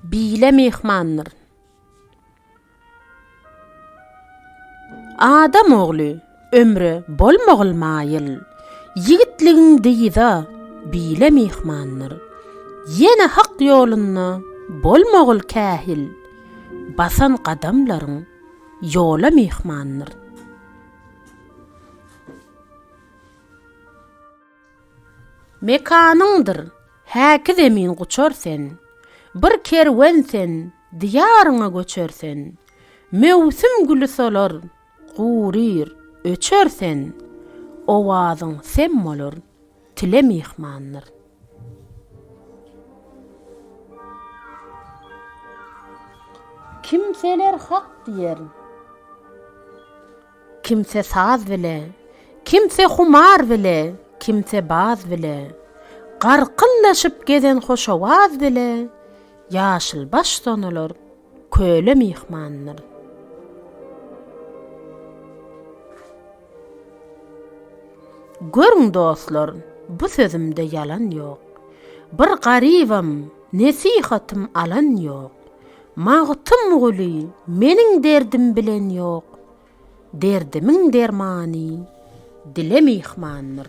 Bile myhmandyr. Adam ogly ömre bolmagl maýyl. Ýigitligiň dyza bile myhmandyr. Ýene hak ýolunda bolmagl kähil. Basan gadamlaryň ýola myhmandyr. Mekanyňdyr häki zemin guçar sen, Bir kerwen sen, diýaryňa göçer sen, Möwsüm güli solar, guryr, öçer sen, Owazyň sem bolar, tile myhmandyr. Kimseler hak diýer. Kimse saz bile, kimse humar bile, kimse baz bile, Garkyldaşyp gezen hoş owaz bile, Ýaşylbaş sonular köle myhmandyr. Görüň dostlar, bu sözümde ýalan ýok, Bir garybam, nesihatym alan ýok. Magtymguly meniň derdim bilen ýok, Derdimiň dermany dile myhmandyr.